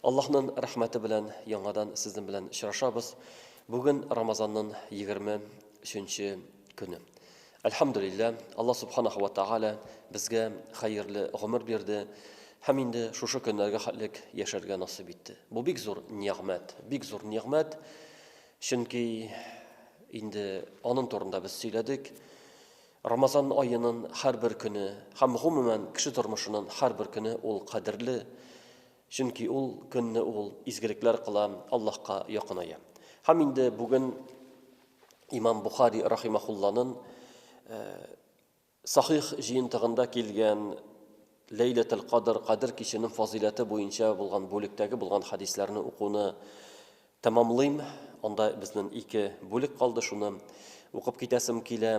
Аллаһнын рәхмәте белән яңадан сезнен белән очрашабыз. Бүген Рамазаннын 20 ченче көне. Әлхәмдүлилләһ, Аллаһ Субханаһу ва Тәгалә безгә хәерле гомер бирде һәм инде шушы көннәргә хәтлек яшәргә насыйп итте. Бу бик зур нигъмәт, бик зур нигъмәт. Чөнки инде анын турында без сөйләдек. Рамазан аенын һәрбер көне һәм гомумән кеше тормышынын һәрбер көне ул кадерле. Чөнки ул көнне ул изгелекләр кыла, Аллаһка якыная. Һәм инде бүген имам Бухари рахимахулланын э, сахих җыентыгында килгән Ләйләтел Кадр, Кадр киченең фазиләте буенча булган бүлектәге булган хадисләрне укуны тәмамлыйм. Анда безнең ике бүлек калды, шуны укып китәсем килә.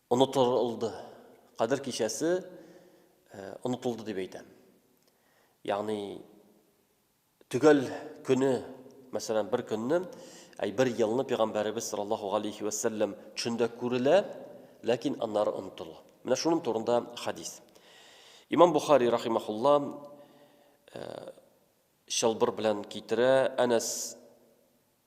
Онытылды. Кадер кичәсе онытылды дип әйтәм. Ягъни төгәл көне, мәсәлән, бер көнне, әй бер елны пәйгамбәребез саллаллаһу алейхи ва саллям төшендә күрелә, ләкин аннары онытыла. Менә шуның турында хадис. Имам Бухари рахимахулла чылбыр белән китерә, Әнәс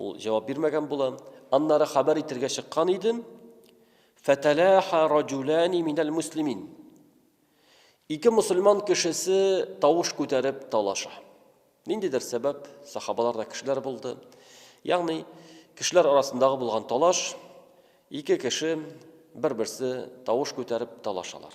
Ул җавап бирмәгән була. Аннары хәбәр итергә чыккан идем. Фәтәләха раҗулани минәл муслимин. Ике мусульман кешесе тавыш күтәреп талаша. Ниндидер сәбәп, сахабалар да кешеләр булды. Ягъни, кешеләр арасындагы булган талаш, ике кеше бер-берсе тавыш күтәреп талашалар.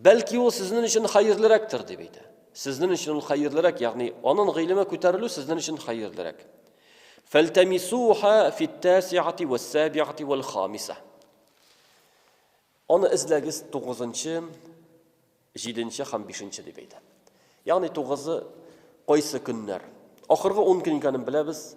Бәлки ул сезнен өчен хәерлерәктер, дип әйтә. Сезнен өчен ул хәерлерәк, ягъни анын гыйлеме күтәрелү сезнен өчен хәерлерәк. Фәлтәмисуха фиттәсиати вәссәбиати вәл хамиса. Аны эзләгез 9-нчы, 7-нче һәм 5-нче дип әйтә. Ягъни 9-ы кайсы көннәр? Ахыргы 10 көн икәнен беләбез.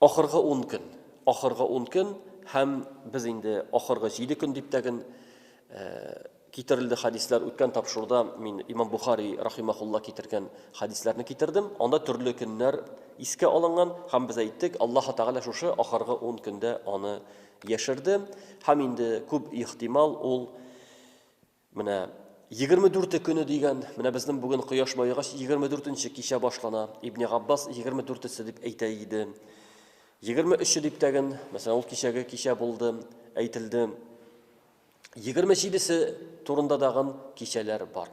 Ахыргы ун көн. Ахыргы ун көн һәм без инде ахыргы җиде көн дип тәген китерелде хәдисләр. Үткән тапшыруда мин Имам Бухари рахимахулла китергән хәдисләрне китердем. Анда төрле көннәр искә алынган һәм без әйттек, Аллаһы Тәгалә шушы ахыргы ун көндә аны яшерде һәм инде күп ихтимал ул Менә 24 көне дигән, менә безнең бүген кояш баегач 24-нче кичә башлана. Ибне Габбас 24-се дип әйтә иде. 23-е дип тәген, мәсәлән, ул кичәге кичә булды, әйтелде. 27-се турында дагын кичәләр бар.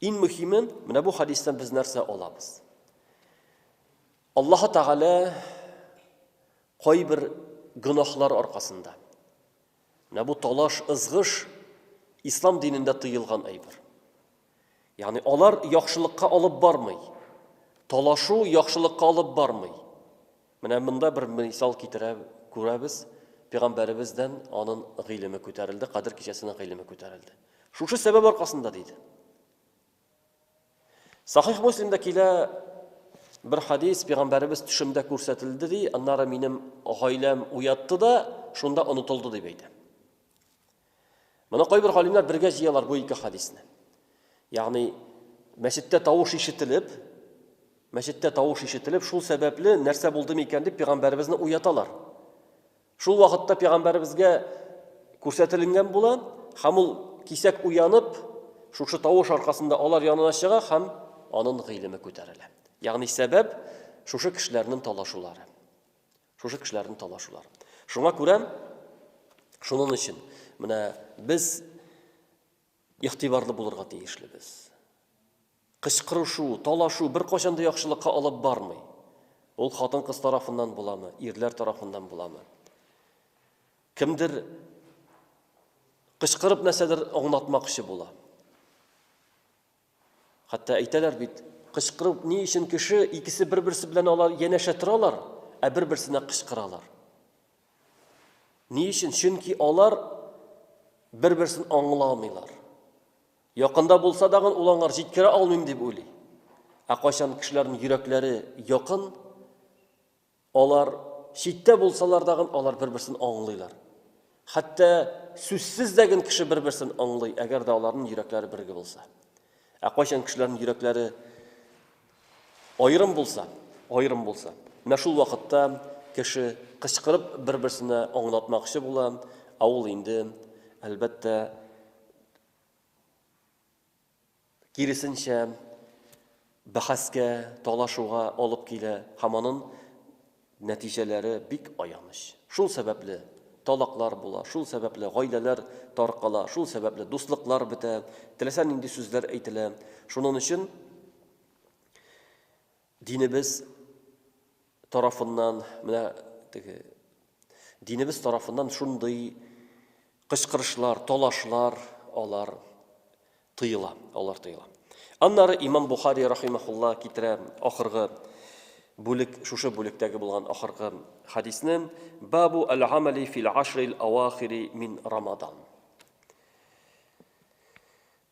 Иң мөһиме, менә бу хадистан без нәрсә алабыз? Аллаһы Тәгалә кайбер гөнаһлар аркасында, Менә бу талаш, ызгыш Ислам динендә тыелган әйбер. Ягъни алар яхшылыкка алып бармый. Талашу яхшылыкка алып бармый. Менә монда бер мисал китерә күрәбез. Пәйгамбәребездән анын гыйлеме күтәрелде, Кадер кичәсенең гыйлеме күтәрелде. Шушы сәбәп аркасында диде. Сахих Муслимда килә бер хадис, пәйгамбәребез төшемдә күрсәтелде ди, аннары минем гаиләм уятты да, шунда онытылды дип әйтә. Моны кайбер галимнәр бергә җыялар бу ике хадисне. Ягъни мәчеттә тавыш ишетелеп, мәчеттә тавыш ишетелеп, шул сәбәпле нәрсә булды микән дип пәйгамбәребезне уяталар. Шул вакытта пигамбәребезгә күрсәтелгән була һәм ул кисәк уянып, шушы тавыш аркасында алар янына чыга һәм анын гыйлеме күтәрелә. Ягъни сәбәп шушы кешеләрнең талашулары. Шушы кешеләрнең талашулары. Шуңа күрә шунын өчен менә без игътибарлы булырга тиешлебез. Кычкырышу, талашу беркайчан да яхшылыкка алып бармый. Ул хатын-кыз тарафыннан буламы, ирләр тарафыннан буламы. Кемдер кычкырып нәрсәдер аңлатмакчы була. Хәтта әйтәләр бит, кычкырып ни өчен кеше икесе бер-берсе белән алар янәшә торалар, ә бер-берсенә кычкыралар. Ни өчен? Чөнки алар бер-берсен аңламыйлар. Якында булса дагын ул аңар җиткерә алмыйм дип уйлый. Ә кайчан кешеләрнең йөрәкләре якын, алар читтә булсалар дагын алар бер-берсен аңлыйлар. Хәтта сүзсез дә гөн кеше бер-берсен аңлый, әгәр дә аларның йөрәкләре бергә булса. Ә кайчан кешеләрнең йөрәкләре аерым булса, аерым булса, менә шул вакытта кеше кычкырып бер-берсенә аңлатмакчы була, ә ул инде, әлбәттә, киресенчә, бәхәскә, талашуга алып килә һәм аның нәтиҗәләре бик аяныч. Шул сәбәпле талаклар була, шул сәбәпле гаиләләр таркала, шул сәбәпле дуслыклар бетә, теләсә нинди сүзләр әйтелә. Шуның өчен Динебез тарафыннан, менә теге динебез тарафыннан шундый кычкырышлар, талашлар алар тыела, алар тыела. Аннары имам Бухари рахимахулла китерә ахыргы бүлек, шушы бүлектәге булган ахыргы хадисне Бабу аль-амали фил ашрил авахири мин рамадан.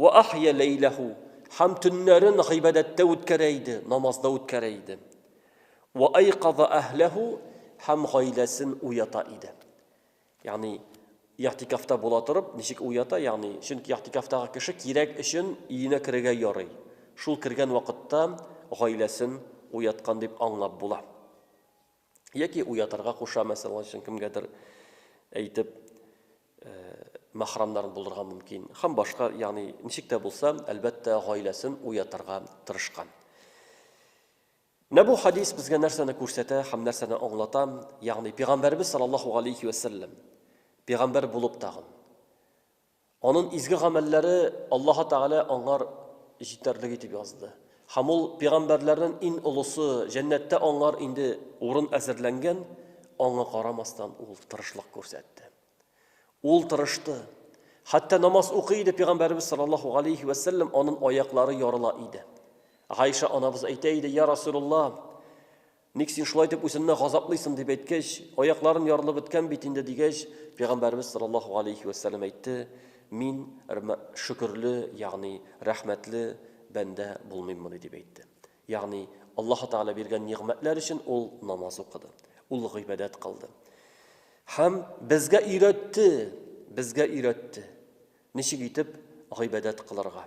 Вә ахйа ләйләһу, һәм төннәрен гыйбадәттә үткәрә иде, намазда үткәрә иде. Вә айказа әһләһу, һәм гаиләсен уята иде. Ягъни, и'тикафта була торып, ничек уята, ягъни, чөнки и'тикафтагы кеше кирәк өчен өенә керергә ярый. Шул кергән вакытта гаиләсен уяткан дип аңлап була. Яки уятырга куша, мәсәлән, өчен кемгәдер әйтеп, э, мәхрамнарын булдырырга мөмкин. Хәм башка, ягъни ничек тә булса, әлбәттә, гаиләсен уятырга тырышкан. Менә бу хадис безгә нәрсәне күрсәтә һәм нәрсәне аңлата? Ягъни пәйгамбәрбез саллаллаһу алейхи ва саллям пәйгамбәр булып тагын Анын изге гамәлләре Аллаһы Тәгалә аңар җитәрлеге итеп язды. Һәм ул пигамбәрләрнен ин олысы, җәннәттә аңар инде урын әзерләнгән, аңа карамастан ул тырышлык күрсәтте. Ул тырышты. Хәтта намаз укый иде пигамбәребез саллаллаһу галәйһи вә сәлләм анын аяклары ярыла иде. Гайша анабыз әйтә иде, Я Расулулла, Ник син шулай дип үзеңне газаплыйсың дип әйткәч, аякларын ярылып беткән бит инде дигәч, пәйгамбәрбез саллаллаһу алейхи ва сәлләм әйтте, мин шөкерле, ягъни рәхмәтле бәндә булмыйммыни дип әйтте. Ягъни Аллаһу Тәгалә биргән нигъмәтләр өчен ул намаз укыды, ул гыйбадәт кылды. Һәм безгә өйрәтте, безгә өйрәтте. Ничек итеп гыйбадәт кылырга?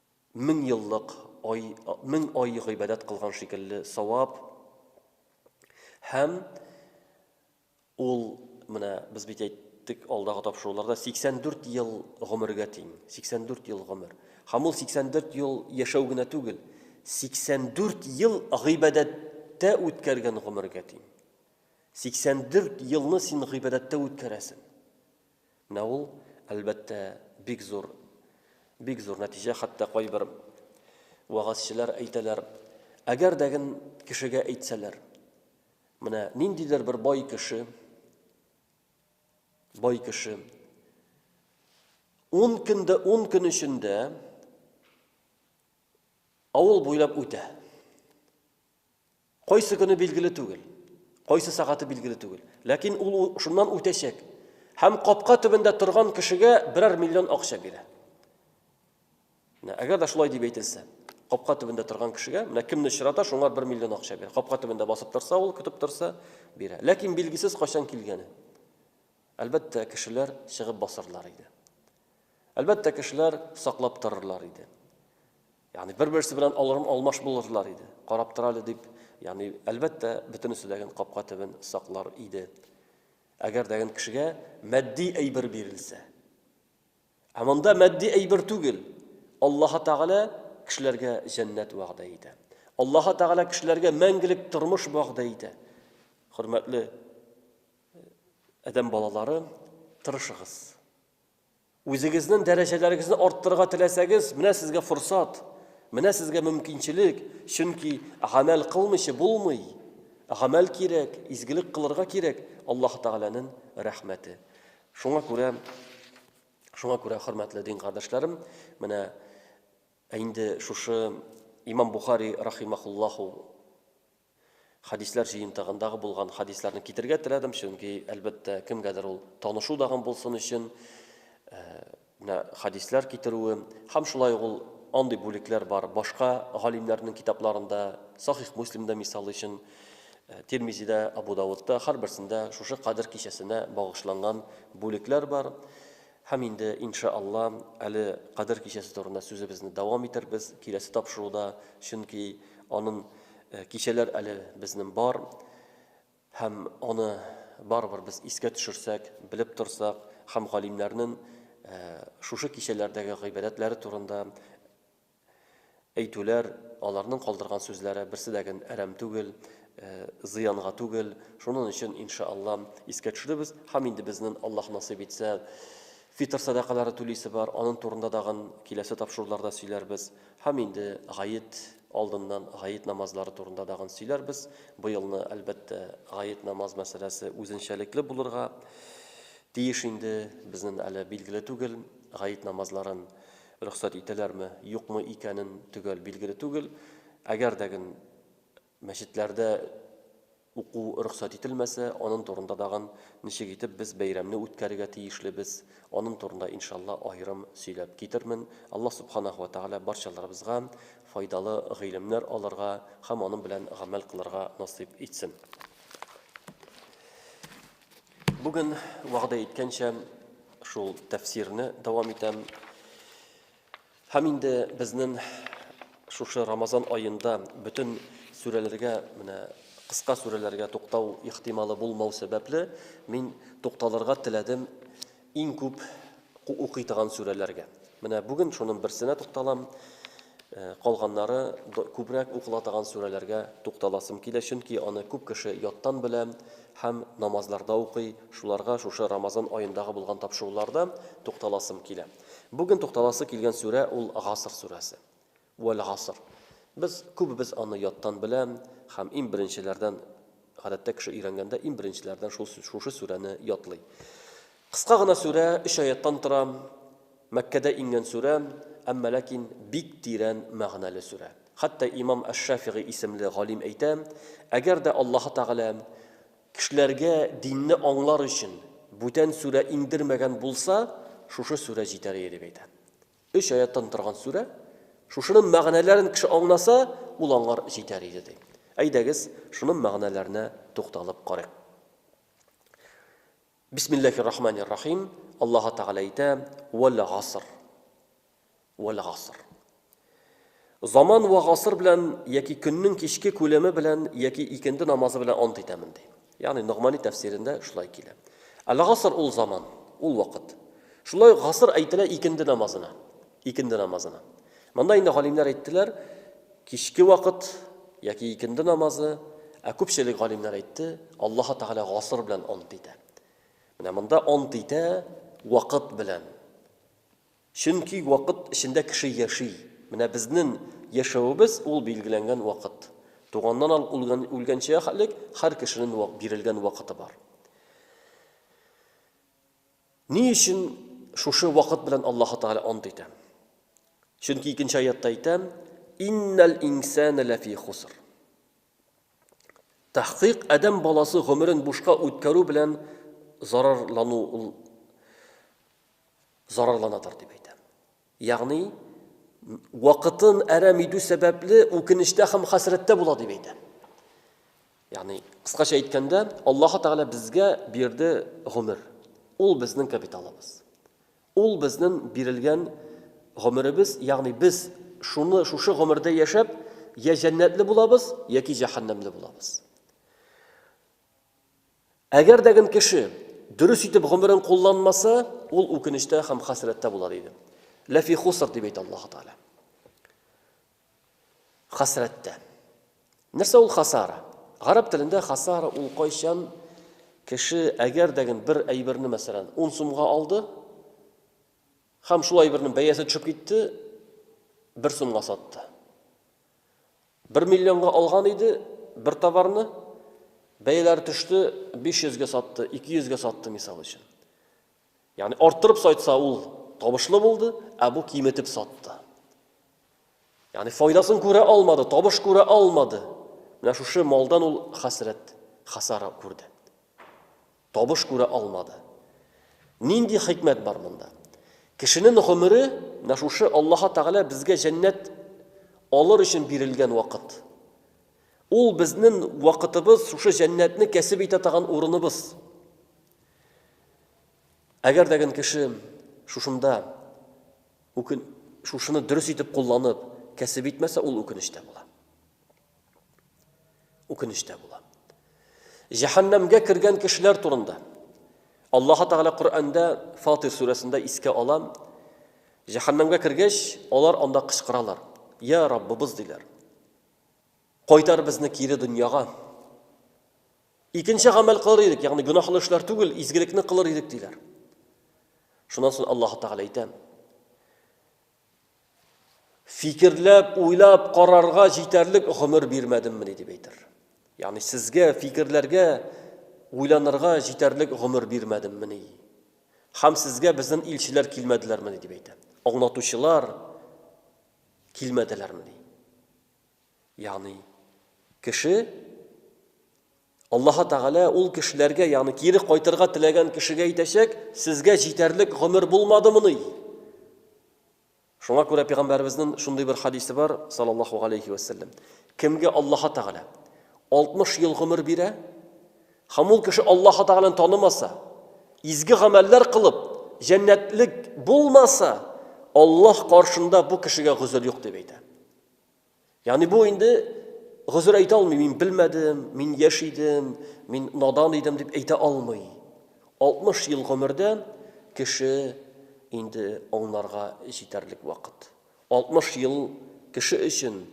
мең еллык ай, мең ай гыйбадәт кылган шикелле савап. Һәм ул менә без бит әйттек алдагы тапшыруларда 84 ел гомергә тиң. 84 ел гомер. Һәм ул 84 ел яшәү генә түгел, 84 ел гыйбадәттә үткәргән гомергә тиң. 84 елны син гыйбадәттә үткәрәсең. Менә ул, әлбәттә, бик зур, бик зур нәтиҗә, хәтта кайбер вәгазьчеләр әйтәләр, Әгәр дә гел кешегә әйтсәләр, менә ниндидер бер бай кеше, бай кеше, ун көндә, ун көн эчендә авыл буйлап үтә. Кайсы көне билгеле түгел, кайсы сәгате билгеле түгел, ләкин ул шуннан үтәчәк һәм капка төбендә торган кешегә берәр миллион акча бирә. Менә әгәр дә шулай дип әйтелсә, капка төбендә торган кешегә, менә кемне очрата, шуңа 1 миллион акча бирә. Капка төбендә басып торса, ул көтеп торса, бирә. Ләкин билгесез кайчан килгәне. Әлбәттә, кешеләр чыгып басырлар иде. Әлбәттә, кешеләр саклап торырлар иде. Ягъни бер-берсе белән алырм-алмаш булырлар иде. Карап тор әле дип, ягъни әлбәттә, бөтенесе дә ген капка төбен саклар иде. Әгәр дә ген кешегә матди әйбер бирелсә. Ә монда матди әйбер түгел. Аллаһ Тәгалә кешеләргә җәннәт вәгъдә итә. Аллаһ Тәгалә кешеләргә мәңгелек тормыш вәгъдә итә. Хөрмәтле адәм балалары, тырышыгыз. Үзегезнен дәрәҗәләрегезне арттырырга теләсәгез, менә сезгә форсат, менә сезгә мөмкинчелек, чөнки гамәл кылмыйча булмый. Гамәл кирәк, изгелек кылырга кирәк, Аллаһ Тәгаләнен рәхмәте. Шуңа күрә, шуңа күрә хөрмәтле дин кардәшләрем, менә инде шушы Имам Бухари рахимахуллаху Хәдисләр җыентыгындагы булган хәдисләрне китерергә теләдем, чөнки, әлбәттә, кемгәдер ул танышу дагын булсын өчен, менә хәдисләр китерүем, һәм шулай ук ул андый бүлекләр бар, башка галимнәрнең китапларында, Сахих Муслимда, мисал өчен, Тирмизидә, Абу Давудта, һәрберсендә шушы Кадер кичәсенә багышланган бүлекләр бар. Һәм инде, инша Алла, әле Кадер кичәсе турында сүзебезне дәвам итербез киләсе тапшыруда, чөнки анын кичәләр әле безнен бар, һәм аны барыбер без искә төшерсәк, белеп торсак, һәм галимнәрнен шушы кичәләрдәге гыйбадәтләре турында Әйтүләр, аларның калдырган сүзләре берсе дә гэн әрәм түгел, зыянга түгел. Шунын өчен, инша Алла, искә төшеребез. Һам инде безнен, Аллаһ насыйп итсә, фитыр сәдакалары түлисе бар, анын турында да гын киләсе тапшыруларда сөйләрбез. Һам инде Гает алдыннан Гает намазлары турында да гын сөйләрбез. Быелны, әлбәттә, Гает намаз мәсьәләсе үзенчәлекле булырга тиеш инде, безнен әле билгеле түгел, Гает намазларын Рөхсәт итәләрме, юкмы икәнен төгәл билгеле түгел. Әгәр дә гын мәчетләрдә уку рөхсәт ителмәсә, анын турында дагын ничек итеп без бәйрәмне үткәрергә тиешлебез, анын турында, иншалла, аерым сөйләп китермен. Аллаһ Субханаһу ва Тәгалә барчаларыбызга файдалы гыйлемнәр алырга һәм анын белән гамәл кылырга насыйп итсен. Бүген вәгъдә иткәнчә шул тәфсирне дәвам итәм. Һәм инде безнең шушы Рамазан аенда бөтен сүрәләргә менә кыска сүрәләргә туктау ихтималы булмау сәбәпле мин тукталырга теләдем Иң күп укый торган сүрәләргә. Менә бүген шуның берсенә тукталам. Калганнары күбрәк укыла торган сүрәләргә тукталасым килә, чөнки аны күп кеше яттан белә һәм намазларда укый. Шуларга шушы Рамазан аендагы булган тапшыруларда тукталасым килә. Бүген тукталасы килгән сүрә ул Гаср сүрәсе. Вәл-гаср. Без күбебез аны яттан белә һәм иң беренчеләрдән, гадәттә кеше өйрәнгәндә иң беренчеләрдән шул шушы сүрәне ятлый. Кыска гына сүрә, өч аяттан тора, Мәккәдә иңгән сүрә, әмма ләкин бик тирән мәгънәле сүрә. Хәтта имам Әш-Шәфигый исемле галим әйтә, Әгәр дә Аллаһы Тәгалә кешеләргә динне аңлар өчен бүтән сүрә иңдермәгән булса, шушы сүрә җитәр иде, дип әйтә. Өч аяттан торган сүрә. Шушының мәгънәләрен кеше аңласа, ул аңар җитәр иде, ди. Әйдәгез, шуның мәгънәләренә тукталып карыйк. Бисмиллахир рахманир рахим. Аллаһы Тәгалә әйтә, Вәл гаср. Вәл гаср. Заман вә гасыр белән яки көннең кичке күләме белән яки икенде намазы белән ант итәмен, ди. Ягъни Ногмани тәфсирендә шулай килә. Әл-гаср ул заман, ул вакыт. Шулай ук гаср әйтелә икенде намазына. Икенде намазына. Монда инде галимнәр әйттеләр, кичке вакыт яки икенде намазы, ә күпчелек галимнәр әйтте, Аллаһы Тәгалә гаср белән ант итә. Менә монда ант итә вакыт белән. Чөнки вакыт эчендә кеше яши. Менә безнен яшәвебез ул билгеләнгән вакыт. Туганнан алып үлгән үлгәнчә хәлек һәр кешенен вак бирелгән вакыты бар. Ни өчен шушы вакыт белән Аллаһы Тәгалә ант итәм? Чөнки икенче аятта әйтәм, Иннәл инсәнә ләфи хуср. Тәхкыйк адәм баласы гомерен бушка үткәрү белән зарарлану ул зарарланадыр дип әйтәм. Ягъни, вакытын әрәм итү сәбәпле үкенештә һәм хәсрәттә була дип әйтәм. Ягъни, кыскача әйткәндә, Аллаһ Тәгалә безгә бирде гомер. Ул безнең капиталыбыз. Ул безнең бирелгән гомеребез, ягъни без шуны шушы гомердә яшәп, я җәннәтле булабыз, яки җәһәннәмле булабыз. Әгәр дә гел кеше дөрес итеп гомерен кулланмаса, ул үкенештә һәм хәсрәттә була диде. Ләфи хуср дип әйтә Аллаһу Тааля. Хәсрәттә. Нәрсә ул хасара? Гарәп телендә хасара ул кайчан кеше әгәр дә гел бер әйберне, мәсәлән, 10 сумга алды, һәм шул әйбернең бәясе төшеп китте, 1 сумга сатты. Бер миллионга алган иде бер товарны, бәяләр төште, 500 гә сатты, 200 гә сатты, мисал өчен. Ягъни арттырып сайтса ул табышлы булды, ә бу киметеп сатты. Ягъни файдасын күрә алмады, табыш күрә алмады. Менә шушы малдан ул хәсрәт, хасара күрде. Табыш күрә алмады. Нинди хикмәт бар монда? Кешенен гомере, менә шушы Аллаһы Тәгалә безгә җәннәт алыр өчен бирелгән вакыт. Ул безнен вакытыбыз, шушы җәннәтне кәсеп итә таган урыныбыз. Әгәр дә ген кеше шушында үкен шушыны дөрес итеп кулланып, кәсеп итмәсә, ул үкенеч тә була. Үкенештә була. Җәһәннәмгә кергән кешеләр турында. Аллаһы Тәгалә Коръәндә Фатир сүрәсендә искә ала. Җәһәннәмгә кергәч, алар анда кычкыралар. Я Раббыбыз диләр. Кайтар безне кире дөньяга. Икенче гамәл кылыр идек, ягъни гөнаһлы эшләр түгел, изгелекне кылыр идек диләр. Шуннан соң Аллаһы Тәгалә әйтә. Фикерләп, уйлап карарга җитәрлек гомер бирмәдеммени дип әйтер. Ягъни сезгә фикерләргә, уйланырга җитәрлек гомер бирмәдеммени? Һәм сезгә безнең илчеләр килмәделәрмени дип әйтә. Аңлатучылар килмәделәрмени? Ягъни кеше Аллаһы Тәгалә ул кешеләргә, ягъни кире кайтырга теләгән кешегә әйтәчәк, Сезгә җитәрлек гомер булмадымыни? Шуңа күрә пәйгамбәребезнең шундый бер хадисе бар, саллаллаһу галәйһи ва сәлләм. Кемгә Аллаһы Тәгалә 60 ел гомер бирә, һәм ул кеше Аллаһы Тәгаләне танымаса, изге гамәлләр кылып, җәннәтлек булмаса, Аллаһ каршында бу кешегә гозер юк дип әйтә. Ягъни бу инде гозер әйтә алмый, мин белмәдем, мин яшь идем, мин надан идем дип әйтә алмый. 60 ел гомердә кеше инде аңларга җитәрлек вакыт. 60 ел кеше өчен,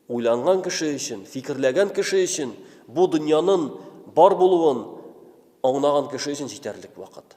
уйланган кеше өчен, фикерләгән кеше өчен, бу дөньянын бар булуын аңнаган кеше өчен җитәрлек вакыт.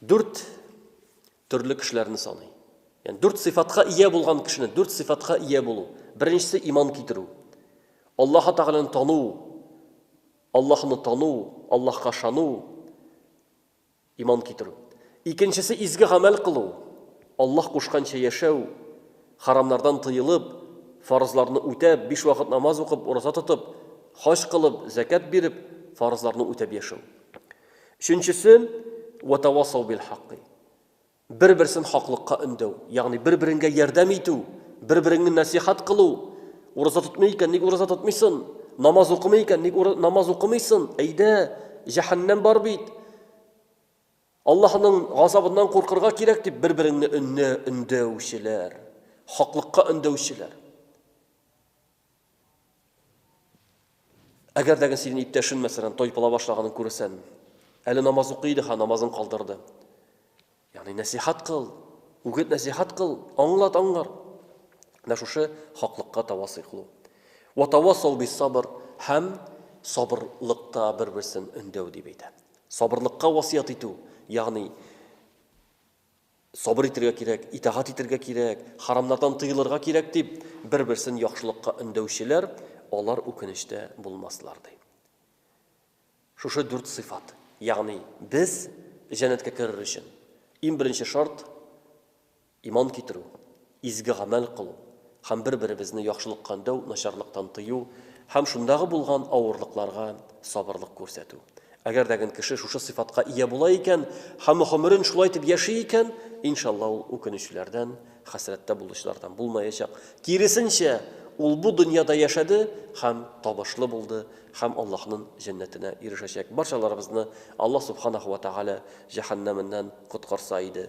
Дүрт төрле кешеләрне саный. Яни дүрт сыйфатка ия булган кешене, дүрт сыйфатка ия булу. Беренчесе иман китерү. Аллаһы Тәгаләне тану, Аллаһны тану, Аллаһка шану, иман китерү. Икенчесе изге гамәл кылу. Аллаһ кушканча яшәү, харамнардан тыелып, фарызларны үтәп, биш вакыт намаз укып, ураза тотып, хаҗ кылып, закат биреп, фарызларны үтәп яшәү. Өченчесе, вәтәвасау бил-хакки. Бер-берсен хаклыкка өндәү, ягъни бер-береңгә ярдәм итү, бер-береңне нәсыйхәт кылу. Ураза тотмый икән, ник ураза тотмыйсын? Намаз укымый икән, ник намаз укымыйсын? Әйдә, җәһәннәм бар бит. Аллаһның газабыннан куркырга кирәк дип бер-береңне өнне өндәүчеләр, хаклыкка өндәүчеләр. Әгәр дәген синең иптәшен мәсәлән тайпыла башлаганын күрсән, әле намаз укый иде, ха намазын калдырды. Ягъни нәсихат кыл, үгет нәсихат кыл, аңлат аңлар. Менә шушы хаклыкка тавасый кылу. Ва тавасау бис сабр һәм сабырлыкта бер-берсен өндәү дип әйтә. Сабырлыкка васыят итү, ягъни Сабыр итергә кирәк, итагать итергә кирәк, харамнардан тыелырга кирәк, дип, бер-берсен яхшылыкка өндәүчеләр, алар үкенечтә булмаслар, ди. Шушы дүрт сыйфат, ягъни без җәннәткә керер өчен иң беренче шарт, иман китерү, Изге гамәл кылу һәм бер-беребезне яхшылыкка өндәү, начарлыктан тыю һәм шундагы булган авырлыкларга сабырлык күрсәтү. Әгәр дә ген кеше шушы сыйфатка ия була икән һәм гомерен шулай итеп яши икән, иншалла, ул үкенүчеләрдән, хәсрәттә булучылардан булмаячак. Киресенчә, ул бу дөньяда яшәде һәм табышлы булды һәм Аллаһнын җәннәтенә ирешәчәк. Барчаларыбызны Аллаһ Субханәһү вә Тәгалә җәһәннәменнән коткарса иде.